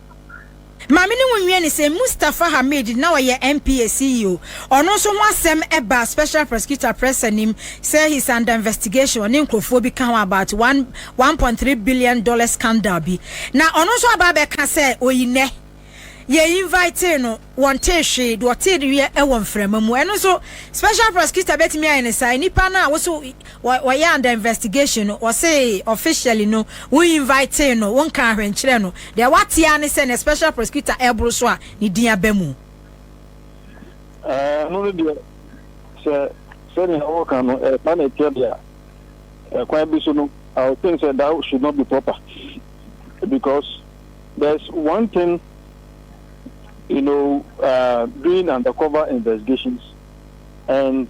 Speaker 5: Ma me
Speaker 4: ne wo nwia ni sɛ Mustafa Hamid na ɔyɛ NPA CEO, ɔno nso ho asɛm baa Special Prosecutor Press anim sɛ he is under investigation, ɔne nkurɔfoɔ bi ka ho about one one point three billion dollars scandal bi. Na ɔno nso aba abɛka sɛ ɔyi nnɛ yɛ invitee no, wɔntee hwee, deɛ ɔteeɛ wɔ mframa mu. Ɛno nso Special Prosecutor bɛtumi ayɛ ne saa, nnipa no a wo so Wɔ wɔyɛ under investigation no wɔsee officially no wo invitee no wo nkaa hwee nkyerɛɛ no deɛ wate ara ne sɛ nɛ special prosecutor ɛboro so a ne din aba mu. Ɛɛ
Speaker 5: ɛno no deɛ sɛ sɛnea woka no ɛɛba na ɛteɛ deɛ a ɛkwan bi so no I will think sɛ that should not be proper because there's one thing you know uh, doing undercover investigations and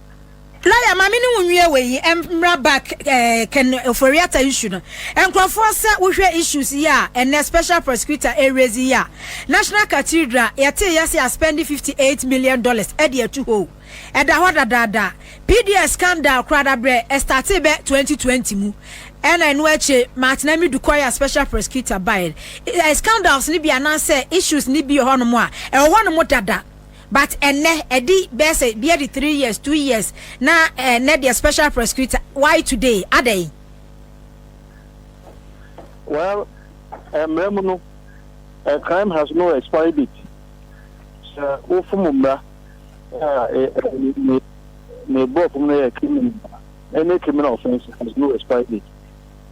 Speaker 4: Lawyer, ma me ne wo nwie wei yi mmra back eh, Ken Oforiata issue no. Nkurɔfoɔ sɛ wohwɛ issues yi a ɛnɛ special prosecutor ɛrezi yi a, National Cathedral yɛtee yɛse aspendi 58 million dollars de atu hɔ o. Ɛda hɔ dadaada. PDS scandal koraa dabrɛ ɛstartee bɛ 2020 mu ɛna ɛno akyire Martin Amidu kɔeɛ a special prosecutor baeɛ. Scandals no bi anaasɛ issues no bi wɔ hɔnom a ɛwɔ hɔnom dada. But ɛnnɛ ɛdi bɛyɛ sɛ ebi adi three years, two years na ɛnnɛ deɛ special prosecutor why today adɛn?
Speaker 5: Well, mmara mu no a crime has no expiry date. Sɛ wofom mmara a ne ne borɔfo mu no yɛ criminal a, any criminal offence has no expiry date.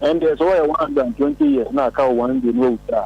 Speaker 5: Ɛndeɛ sɛ wɔyɛ one hundred and twenty years na aka wo one day na wawu a,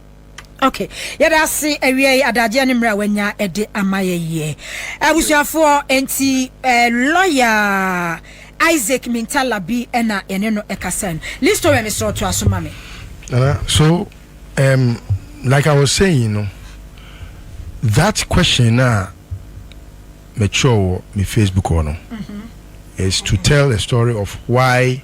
Speaker 5: Okay.
Speaker 4: Yɛda ase awie yi adagyeɛ ne mmerɛ a wanya de ama yɛyɛ. Abusuafoɔ nti eh, lɔya Isaac Mintala bi ɛna yɛne no ɛkasa no. Listo wɛ mesrɛ ɔto aso ma me. Nana, so
Speaker 3: um, like I was saying, you know, that question na mature wɔ me Facebook hɔ no mm-hmm. is to tell a story of why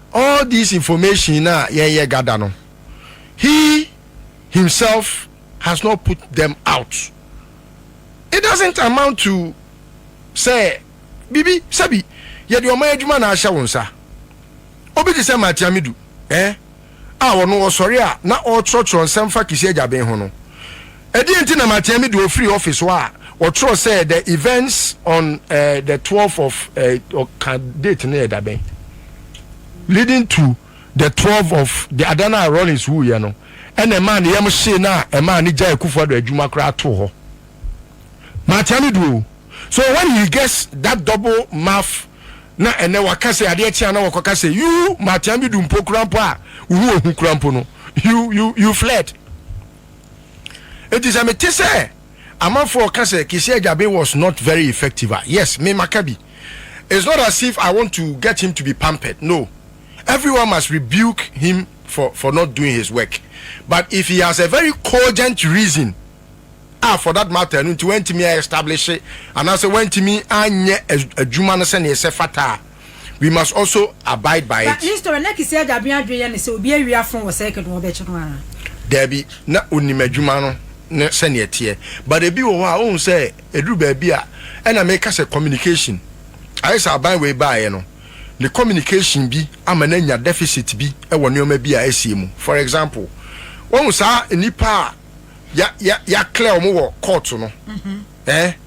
Speaker 3: All this information na yɛn yɛ gada no he himself has not put them out it doesn't amount to sɛ biribi sɛbi yɛde ɔman adwuma na ahyɛ wo nsa obi te sɛ Martin Amidu eh a ɔno ɔsɔre a na ɔrekyerɛkyerɛ nsɛm fa Kisi Agyaben ho no Ɛdeɛn nti na Matea Midu ɔfirii office hɔ a ɔtwerɛ sɛ the events on eh, the twelve of eh, ɔka date no yɛ da bɛn? leading to the twelve of the ada no a Rawlings wuiɛ no ɛna ɛmaa ne yam hyee no a ɛmaa no gyae Akufo Addo adwuma koraa too hɔ. Matea Midu o. So when he gets that double mouth na ɛnɛ waka sɛ adeɛ kye a na wɔkɔka sɛ you Matea Midu mpo koraa mpo a wo ho ɔhu koraa mpo no you, you, you fled. Enti sɛ mete sɛ amanfoɔ ka sɛ Kisi Agyabe was not very effective a, yes, me maka bi. It's not as if I want to get him to be pampered, no. Everyone must rebuke him for for not doing his work. But if he has a very cogent reason a for that matter ɛno nti wantumi a establish anaasɛ wantumi anyɛ adwuma no sɛdeɛ ɛsɛ fata a, we must also abide by it. But his story, na Kissi Agyabin
Speaker 4: adwene yɛ no sɛ obi awi afon wɔ circuit no wɔbɛkye no ara. Daabi, na onim adwuma
Speaker 3: no ne sɛnea ɛteɛ. But ebi wɔ hɔ a wohu sɛ ɛduru baabi a, ɛna meka sɛ communication. Ayɛ sɛ aban wei baeɛ no, ne communication bi ama no anya deficit bi wɔ nneɛma bi a asie mu. For example, woahu saa nnipa a yɛ, yɛ, yɛaklɛ wɔn wɔ court no? Eh?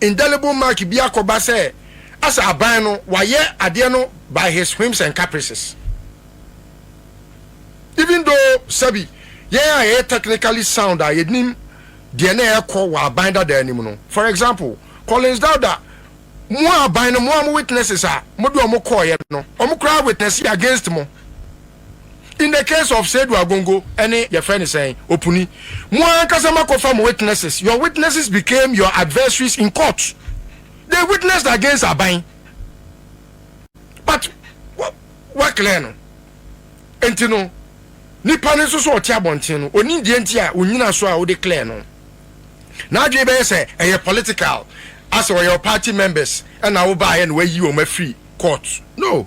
Speaker 3: Indelible mark bi akɔba sɛ asɛ aban no wayɛ adeɛ no by his whims and caprices. Even though sɛbi yɛn a yɛyɛ technically sound a yɛnim deɛ na ɛrekɔ wɔ aban dadaa no mu no, for example, Collins Dauda, mo a aban no, mo a mo witnesses a mode wɔn kɔeɛ no, wɔn koraa witnessee against mo. in the case of Seidu Agongo ɛne yɛfrɛ no sɛn Opuni mo ankasa mo akɔfa mo witnesses your witnesses became your adversaries in court they witnessed against Aban but wa wa clear no nti no nipa no nso so ɔte abɔnten no onim deɛ nti a onyina so a wode clear no n'adwene bɛyɛ sɛ ɛyɛ political asɛ ɔyɛ party members ɛna wobaayɛ na wayi wɔn afiri court no.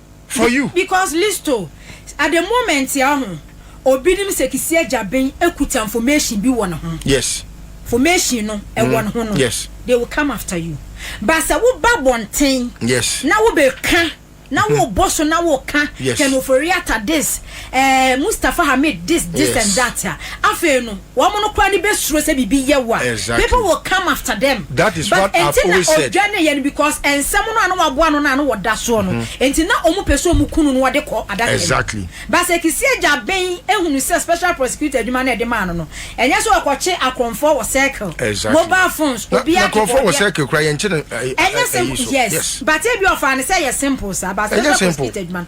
Speaker 3: for you. Because listo
Speaker 4: at the moment ya ho obi nim sɛ kisi agyaben ekuta information bi wɔ ne ho. Yes. Information
Speaker 3: no
Speaker 4: ɛwɔ mm. ne ho no. Yes. They will come after
Speaker 3: you.
Speaker 4: But sɛ wo ba bɔnten. Yes. Na wo bɛ
Speaker 3: ka.
Speaker 4: Na mm-hmm. wo bɔ so na wo ka. Yes. Kɛnofori ata
Speaker 3: this.
Speaker 4: Ɛɛ Mustafa Hamid this this yes. and that a afei no wɔn no koraa de bɛ suro sɛ biribi yɛ wo a exactly. people will come
Speaker 3: after
Speaker 4: them that is but what I've
Speaker 3: always said nti na
Speaker 4: odwa
Speaker 3: ne yɛ no because nsɛm
Speaker 4: no a na waboa no na no wɔda soɔ no mm-hmm. nti na wɔn pɛ so wɔn kunu no wɔde kɔ adaka exactly basɛ
Speaker 3: kisi agya
Speaker 4: bɛn ehunu sɛ special prosecutor adwuma na ɛde maa no no ɛnyɛ sɛ ɔkɔkye akɔnfɔ wɔ circle exactly. mobile phones
Speaker 3: obi akɔkɔ deɛ
Speaker 4: akɔnfɔ wɔ
Speaker 3: circle kura yɛn kyi no ɛyɛ simple yes
Speaker 4: but ebi ɔfa ne sɛ yɛ simple sa basɛ special prosecutor adwuma no.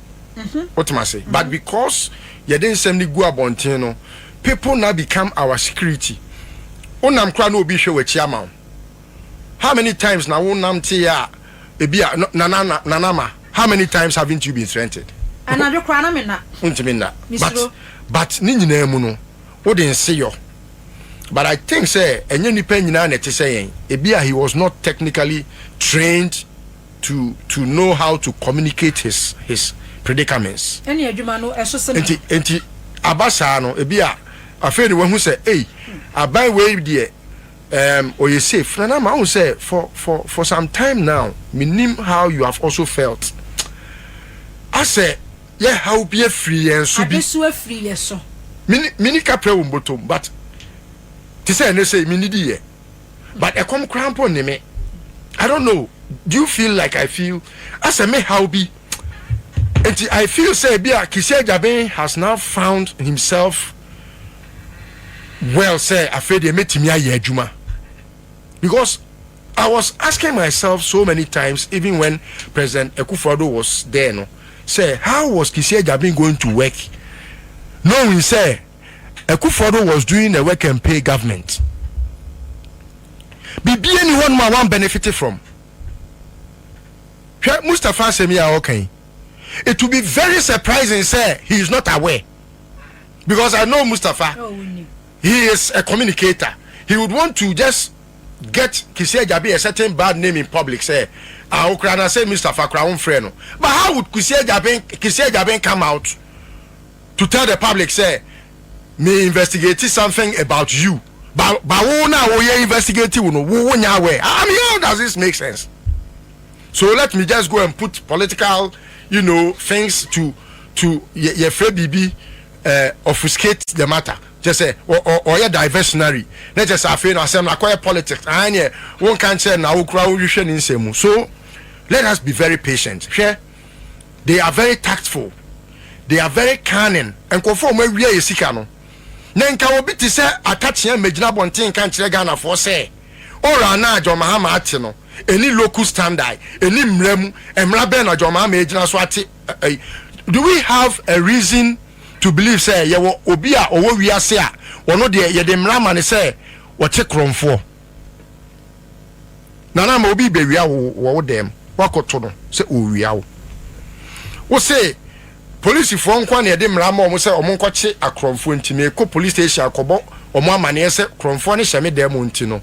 Speaker 3: Wotem ase? But because yɛde nsɛm no gu abɔnten no, people now become our security. Wonam koraa na obi rehwɛ w'akyi ama wo. How many times na wonamteeɛ a ebi a Nana na Nana ma how many times haven't you been threatened? Anadwo koraa na menna.
Speaker 4: Wontumi nna. But
Speaker 3: but ne nyinaa mu no wode nse yɔ. But I think sɛ ɛnyɛ nnipa nyinaa na ɛte sɛ yɛn. Ebi a he was not technically trained. to to know how to communicate his his predicaments. Ɛne adwuma no
Speaker 4: ɛso sɛm. Nti nti
Speaker 3: aba saa no ebi a afei de wahu sɛ ei aban wei deɛ um, ɔyɛ safe na na ma ho sɛ for for for some time now menim how you have also felt asɛ yɛ how bi afiri yɛn so bi. Adesu afiri yɛ so.
Speaker 4: Mini mini kapra
Speaker 3: wɔ mbotom but te sɛ ɛnɛ sɛ menidi yɛ. but ɛkɔm koraa mpo nne me I don't know do you feel like I feel asɛ me haw bi nti I feel sɛ bi a Kisi Agyaben has now found himself well sɛ afei deɛ mɛtumi ayɛ adwuma because I was asking myself so many times even when President Akufo-Addo was there no sɛ how was Kisi Agyaben going to work knowing sɛ Akufo-Addo was doing a work and pay government. Biribiara nni hɔnom a wɔn benefit from. Hwɛ Mustapha asɛm yi a ɔka yi. It will be very surprising sɛ he is not aware because I know Mustapha. He is a communicator. He would want to just get Kisi Ajabi a certain bad name in public sɛ ah okura na sɛ Mustapha kura wɔn frɛ no. But how would Kisi Ajabi Kisi Ajabi come out? to tell the public sɛ me investigate something about you but but wo na wo yɛ investigate wo no wo wo nya aware I mean how does this make sense so let me just go and put political you know things to to yɛ yɛ fɛ biribi uh, obfuscate the matter kyɛ sɛ ɔyɛ diversionary na kyɛ sɛ afei no asɛm no akɔyɛ politics aa neɛ wonka nkyerɛ na wokora wohwehwɛ ne nsɛm mu so let us be very patient hwɛ they are very tactful they are very cunning nkurɔfoɔ a wɔn awia yɛ sika no na nka obi te sɛ akakyea mmɛgyina abɔnten nka nkyerɛ ghanafoɔ sɛ ɔra na john mahama ate no ɛni local standard ɛni mmara mu mmara bɛn na john mahama ɛgyina so ate ɛyi do we have a reason to believe sɛ yɛwɔ obi a ɔwɔ wiase a ɔno deɛ yɛde mmara ma ne sɛ ɔte korɔmfoɔ Nana ama obi rebɛwia wo wɔ wo dan mu, woakɔto no sɛ ɔrewia wo. Wose polisifoɔ nko ara na yɛde mmara ma wɔn sɛ wɔnkɔkye akorɔmfoɔ nti merekɔ police station akɔbɔ wɔn amanneɛ sɛ korɔmfoɔ no hyɛ me dan mu nti no,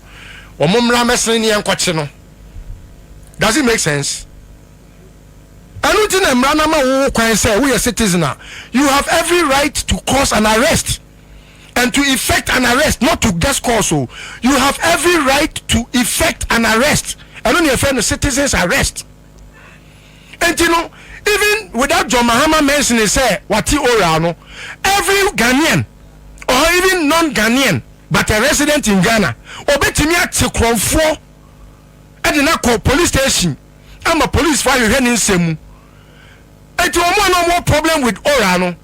Speaker 3: wɔmmra mmɛsene ne yɛnkɔkye no. Does it make sense? Ɛno nti na mmara no ama wo kwan sɛ woyɛ citizen a, you have every right to cause an arrest. and to effect an arrest not to guest calls o you have every right to effect an arrest ɛno ne ɛfɛ no citizens arrest nti no even without John Mahama mentioning sɛ wate oral no every Ghanaian or even non-Ghanaian but a resident in Ghana ɔbɛtumi ate korɔmfoɔ ɛde no akɔ police station ama police fo ahwehwɛ ne nsɛm mu nti wɔn a na wɔn problem with oral no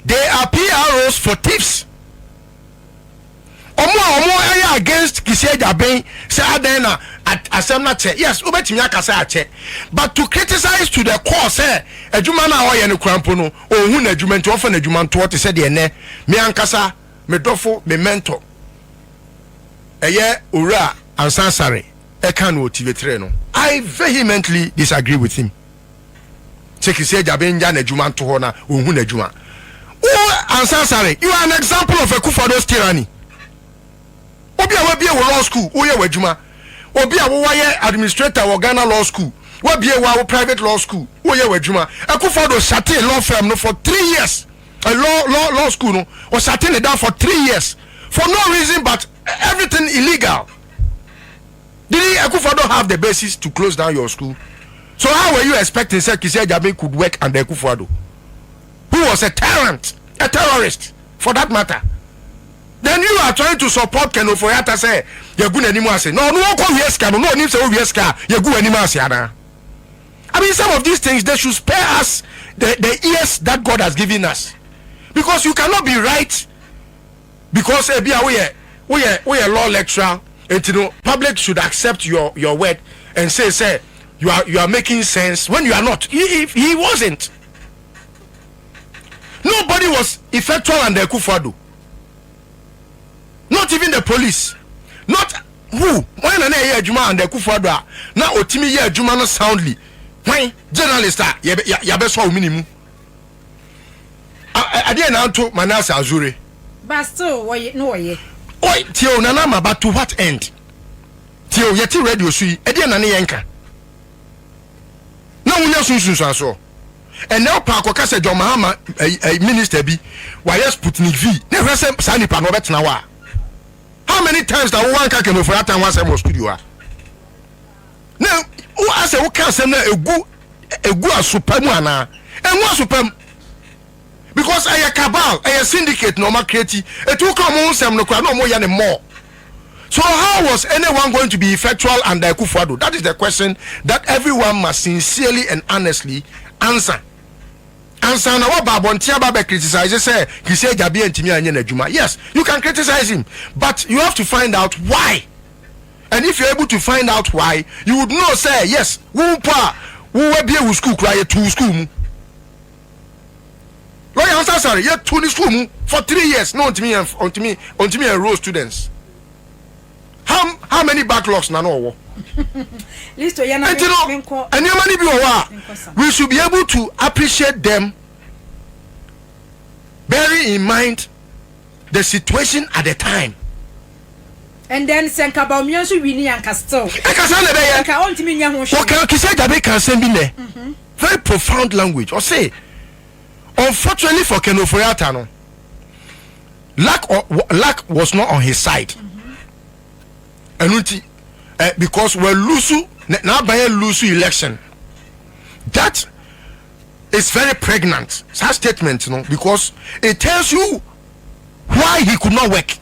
Speaker 3: They are PROs for thieves. Ɔmo a ɔmo ɛyɛ against Kisi Agyaben sɛ adɛn na asɛm no akyɛ. Yes, wobɛtumi aka sɛ akyɛ. But to criticize to the core sɛ adwuma no a ɔyɛ no kura mpo no ɔnhu n'adwuma nti ɔmfa n'adwuma ntoɔ te sɛ deɛ nnɛ me ankasa me dɔfo me mentor ɛyɛ Owura Ansah Asare ɛka no wɔ Tivetere no. I vehemently disagree with him. sɛ kisi agya bɛ ngya n'adwuma nto hɔ na ɔnhu n'adwuma wo ansa sare you are an example of a kufado's tyranny obi a wabie wo law school woyɛ w'adwuma obi a wowayɛ administrator wɔ Ghana law school wabie wa wo private law school woyɛ w'adwuma akufado hyate law firm no for three years uh, law, law, law school no ɔhyate ne da for three years for no reason but everything illegal Didn't Akufo-Addo have the basis to close down your school? So how were you expecting sɛ Kissi Agyabin could work under Akufo-Addo who was a tyrant, a terrorist for that matter? Then you are trying to support Ken Ofori-Atta sɛ yɛgu n'anim ase. Na ɔno ɔkɔ wia sika no, na ɔnim sɛ owia sika a yɛgu w'anim ase anaa? I mean some of these things they should spare us the, the ears that God has given us because you cannot be right Because ebia woyɛ woyɛ woyɛ law lecturer nti no public should accept your your word and say sɛ you are you are making sense when you are not he he he wasn't nobody was effectual under Akufo Addo not even the police not who wɔn na na ɛyɛ adwuma under Akufo Addo a na otimi yɛ adwuma no soundly wɔn journalist a yɛbɛ yɛabɛsɔ wɔn ne mu. adeɛ na anto manase azure. but still
Speaker 4: wɔyɛ no wɔyɛ. oi tie o
Speaker 3: nana ama but to what end tie o yɛte radio so yi ɛdeɛ na ne yɛ nka na wonya sunsunsuansoɔ ɛnɛ ɔpa akɔka sɛ john mahama ɛyi eh, eh, minister bi wayɛ sputnik v ne hwɛ sɛ saa nipa no ɔbɛtena hɔ a how many times na wowɔ anka kɛmɛfura atan ho asɛm wɔ studio a na wo asɛ wo ka asɛm na egu egu asopa mu ana engu asopa mu because ɛyɛ cabal ɛyɛ syndicate na ɔma create eti wo ka ɔmo ho nsɛm no kora na ɔmo yɛ ne more so how was anyone going to be effectual under Akufo-Addo that is the question that everyone must sincerely and honestly answer ansa na waba abɔnten aba bɛ criticize sɛ Kisi Agyabeɛ ntumi anyɛ n'adwuma yes you can criticize him but you have to find out why and if you're able to find out why you would know sɛ yes wo mpo a wo wabie wo school koraa yɛtu wo school mu lɔya ansa sare yɛtu ne school mu for three years na ɔntumi yɛn ɔntumi ɔntumi yɛn role students how how many backlogs na na ɔwɔ
Speaker 4: listo yɛ na nti no mi nkɔ nneɛma no bi wɔ hɔ a mi nkɔ sa.
Speaker 3: we should be able to appreciate them bearing in mind the situation at the time
Speaker 4: And then sɛ nka Bawumia nso winnie a nka still Ɛka saa na ɛbɛyɛ. nka
Speaker 3: ɔntumi nyɛ ho
Speaker 4: Wɔka hwee. Kissi Ajabe ka asɛm
Speaker 3: bi nnɛ very profound language ɔse unfortunately for Ken Ofori Atta no luck luck was not on his side ɛno nti eh because wa lose na n'aban a lose election that is very pregnant saa statement no because it tells you why he could not work.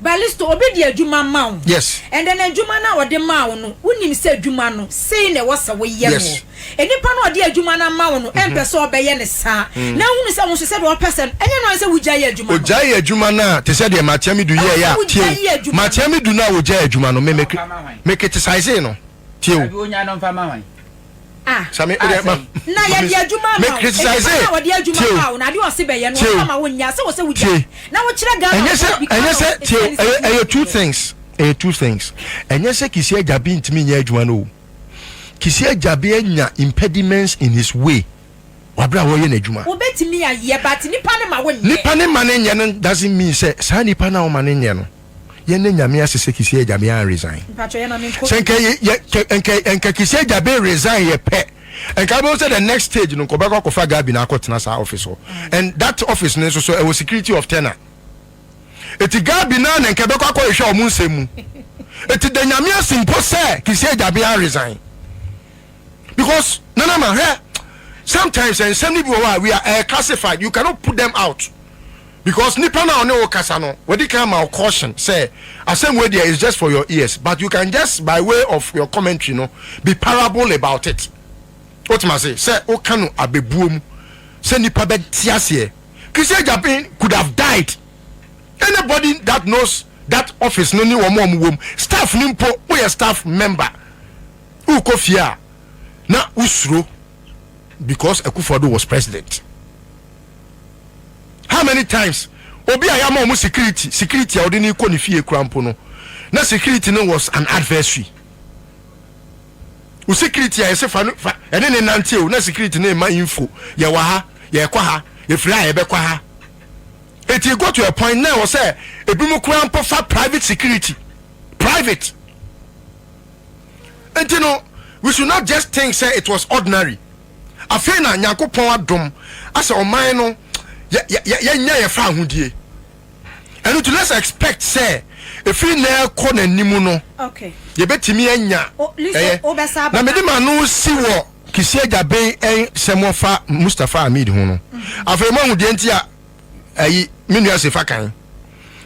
Speaker 4: Balisto, obi de adwuma ma wo. Yes. And then adwuma
Speaker 3: no a
Speaker 4: ɔde ma wo no, wonim sɛ adwuma no sei na ɛwɔ sɛ woyɛ no. Yes. Nipa no
Speaker 3: a ɔde
Speaker 4: adwuma no ama wo no, ɛmpɛ mhm. sɛ ɔbɛyɛ ne saa. Mm. Na wohunu sɛ wo nso sɛdeɛ ɔpɛ sɛ no, ɛnyɛ no sɛ wogya yɛ adwuma no. Ogya yɛ adwuma no a, te sɛ deɛ
Speaker 3: Matia Midu yɛɛ yɛ a, tie. Matia Midu no a ogya yɛ adwuma no, me me kete saesee no. Tie o. Ah,
Speaker 4: ah sɛn. Na yɛde adwuma ama wo. Nnipa no a wɔde
Speaker 3: adwuma ma wo
Speaker 4: no, adeɛ ɔse bɛyɛ no, wɔmfa ma wo nyɛ. Sɛ wɔ sɛ wogya. Na wokyerɛ Ghana. Ɛnyɛ sɛ, ɛnyɛ sɛ, tie
Speaker 3: o, ɛyɛ, ɛyɛ two things. Ɛyɛ two things. Ɛnyɛ sɛ Kisii Agyabi ntumi nyɛ adwuma no o. Kisii Agyabi anya impediments in his way wɔ berɛ a ɔreyɛ n'adwuma. Wobɛtumi ayɛ, but
Speaker 4: nnipa no ma wonyɛ. Nnipa no ma no nyɛ no
Speaker 3: doesn't mean sɛ saa nnipa no a wɔma no nyɛ no yɛ nɛ nyame ase sɛ kisi agya me an resign sɛ nkɛ yɛ yɛ nkɛ nkɛ kisi agya be resign yɛ pɛ nkɛ abɛwo sɛ the next stage no nkɔ bɛkɔ akɔfa gabi na akɔ tena saa office hɔ mm. and that office no nso so ɛwɔ security of tenor eti gabi na na nkɛ bɛkɔ akɔ ehwɛ ɔmo nsɛm mu eti the nyame ase mpo sɛ kisi agya be an resign because nana ma hɛ sometimes nsɛm ni bi wɔ hɔ a we are uh, classified you cannot put them out. Because nipa no a ɔne wo kasa no wadi kan ama wo caution sɛ asɛm wei deɛ is just for your ears but you can just by way of your commentary no be parable about it. Wotem ase? Sɛ woka no abɛbuo mu sɛ nipa bɛte aseɛ. Chrissy Agyapin could have died. Anybody that knows that office no ne wɔn a wɔwom, staff no mpo, woyɛ staff member, wokɔ fie a na wosuro because Akufo-Addo was president. how many times obi a yɛama wɔn security security a wɔde no kɔ ne fie kura mpo no na security no was an adversary o security a yɛsɛ fa no fa ɛne ne nante o na security no ma info yɛwɔ ha yɛkɔ ha efiri a yɛbɛkɔ ha eti go to a point na ɛwɔ sɛ ebi mu kura mpo fa private security private eti no we should not just think say it was ordinary. Afei na Nyankopɔn adom asɛ ɔman no yɛ yɛ yɛ yɛnya yɛ fa ahodie. Ɛno nti let's expect sɛ ɛfiri nnɛ kɔ n'anim no Okay. yɛbɛtumi anya O, Liso, ɛyɛ. wobɛsa Na abɛka. mede m'ano si wɔ Kissi Agyabeng ɛn sɛm ɔfa Mustapha Hamid ho no. Afei moahu deɛ nti a ayi me nua Sefa kan.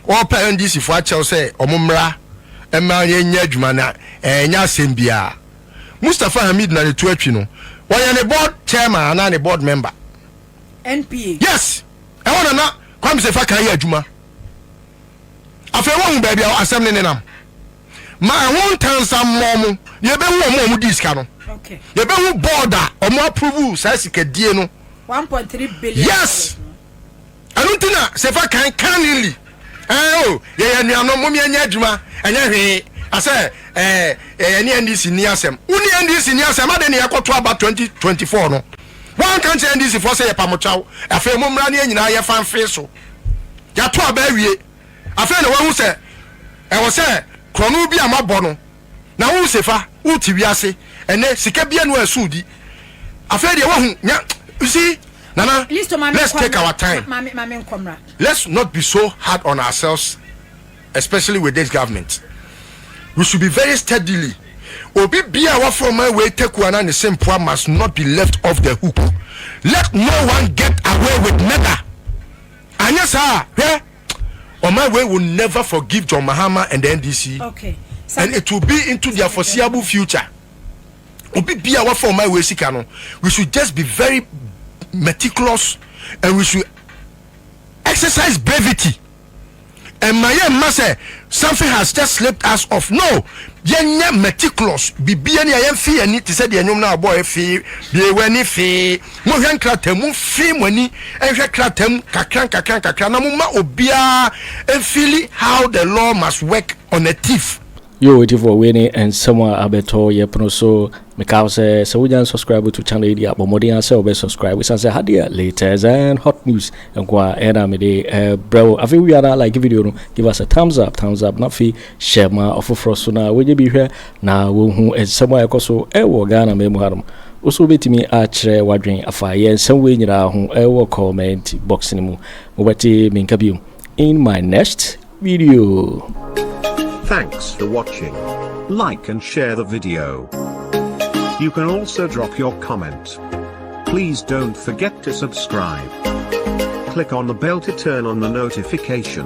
Speaker 3: Ɔrepɛ NDC foɔ akyɛw sɛ ɔmo mmra mma yɛnyɛ adwuma na ɛnyɛ asɛm biara. Mustafa Hamid na ne to atwi no ɔyɛ ne board chairman anaa ne board member. NPA. Yes ɛhɔ na na Kwame Sefa kan yɛ adwuma afei wahu baabi a asɛm no nenam ma ɛho ntansammɔ mo yɛbɛhu wɔn a wɔdii sika no Okay. yɛbɛhu board a wɔn approve saa sikadie no 1.3 billion yes dollars no. Ɛno nti na Sefa kan kannily, Ɛɛ o, yɛyɛ anuanom, mom yɛnyɛ adwuma, ɛnyɛ hwee, asɛ ɛɛ ɛɛ yɛne NDC nni asɛm. Wo ne NDC nni asɛm, adɛn na yɛkɔto aba 2024 no, woanka nkyerɛ NDC foɔ sɛ yɛpa mo kyɛw, afei mommra ne yɛn nyinaa yɛfa mfee so. Yɛato aba awie, afei na woahu sɛ ɛwɔ sɛ korɔno bi a moabɔ no, na wo se fa wo te wiase ɛnɛ sika bia no ɛso di afei deɛ wahu nya you see nana let's take our time let's not be so hard on ourselves especially with this government we should be very steadily obi bia wafɔ ma wei taku ana ne sempoa must not be left off the hook let no one get away with murder anyɛ saa hwɛ On my way will never forgive John Mahama and the NDC and it will be into their foreseeable future. Obi bia wafa on my way sika no, we should just be very meticulous and we should exercise brevity. And my ma say something has just slipped us off. No, yɛnyɛ meticulous. Bibia ni ayɛ fi ani te sɛ deɛ nwom na abɔ fi bie wani fi Monhwɛ nkrataa mu, monfee mo ani nhwɛ krataa mu nkakrankakra-nkakra na momma obiara nfeeli how the law must work on a thief. Yoo atifoɔ wei
Speaker 1: ne nsɛm a abɛtɔ yɛ pono so Mekaa wo sɛ sɛ wonya nsubscribe to channel yi deɛ a bɔ mmɔden ara sɛ wobɛ subscribe ɛsiane sɛ ha deɛ latest and hot news nko a ɛna mede brɛ wo afei wowia no a like video no give us a thumbs up thumbs up na afei hyɛ ma ɔfoforɔ so na wonyɛ bi hwɛ Na wɔhu nsɛm a ɛkɔ so wɔ Ghana man mu hanom. Wo so wobɛtumi akyerɛ w'adwene afa yɛn nsɛm wei nyinaa ho wɔ comment box no mu. Mobɛte me nka biom in my next video.
Speaker 6: Thanks for watching. Like and share the video. You can also drop your comment. Please don't forget to subscribe. Click on the bell to turn on the notification.